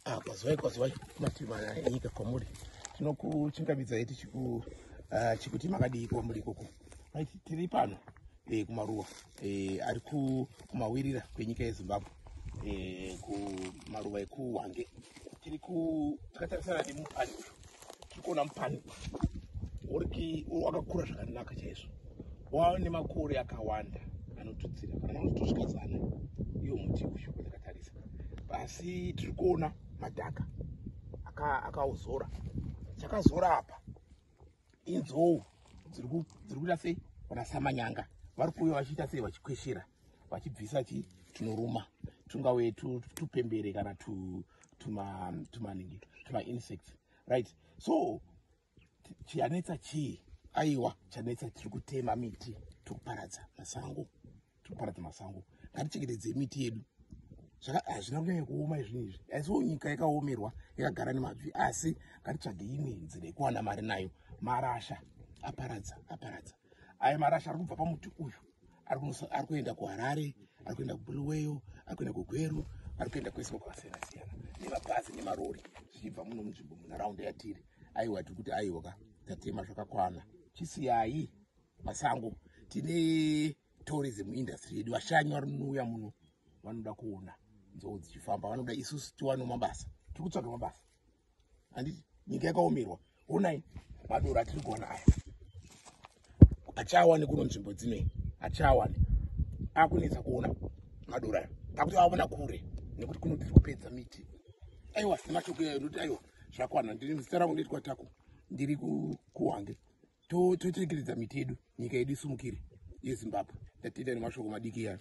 Ah, kwazivai kwazivai kumativi mana enyika kwamuri tinokuchingamidzai tichikuti ah, makadii kwamuri ikoko tiri pano eh, kumaruwa eh, ari kumawirira kwenyika yezimbabwe eh, kumaruwa ekuwange tiri kutatarisana nemupani uyu tiri kuona mupani uriki wakakura zvakanaka chaizvo wava nemakore akawanda anotudzira kana anotosvika zana iyo muti uyu wandakatarisa pasi tiri kuona madhaka akauzora chakazora apa inzou dziri kuita sei kana samanyanga vari kuuya vachiita sei vachikweshera vachibvisa chii tunoruma tungave tupembere kana tu tuma um, tuma ningi tuma insects right so chiyanetsa chii aiwa chanetsa tiri kutema miti tiri kuparadza masango tiri kuparadza masango ngatichengetedze miti yedu hazvina kunyanya kuoma izvinhu izvi aisiwo nyika yakaomerwa yakagara nemabvi asi ngatitsvage imwe nzira yekuwana mari nayo marasha aparadza aparadza aya marasha ari kubva pamuti uyu ari kuenda kuharare ari kuenda kubuluweyo ari kuenda kugweru ari kuenda kwese kwakasiyana siyana nemabhazi nemarori zvichibva muno munzvimbo munharaunda yatiri aiwa tiri kuti aiwa ka tatema zvakakwana chisiyayi masango tine tourism industry yedu vashanyi varinouya muno vanoda kuona nzou dzichifamba vanoda isusu tiwanewo mabasa tiri kutsvaga mabasa handiti nyika yakaomerwa honai madoro atiri kuona aya achawane kuno nzvimbo dzinei achawane akunetsa kuona madoro aya akuti aona kure nekuti kuno tiri kupedza miti aiwa nemashoko iyayo noti aiwa zvakwana ndiri muzita rangu ndoitwa tako ndiri kuwange tocherekedza miti yedu nyika yedu isumukire yezimbabwe ndatenda nemashoko madiki iyayo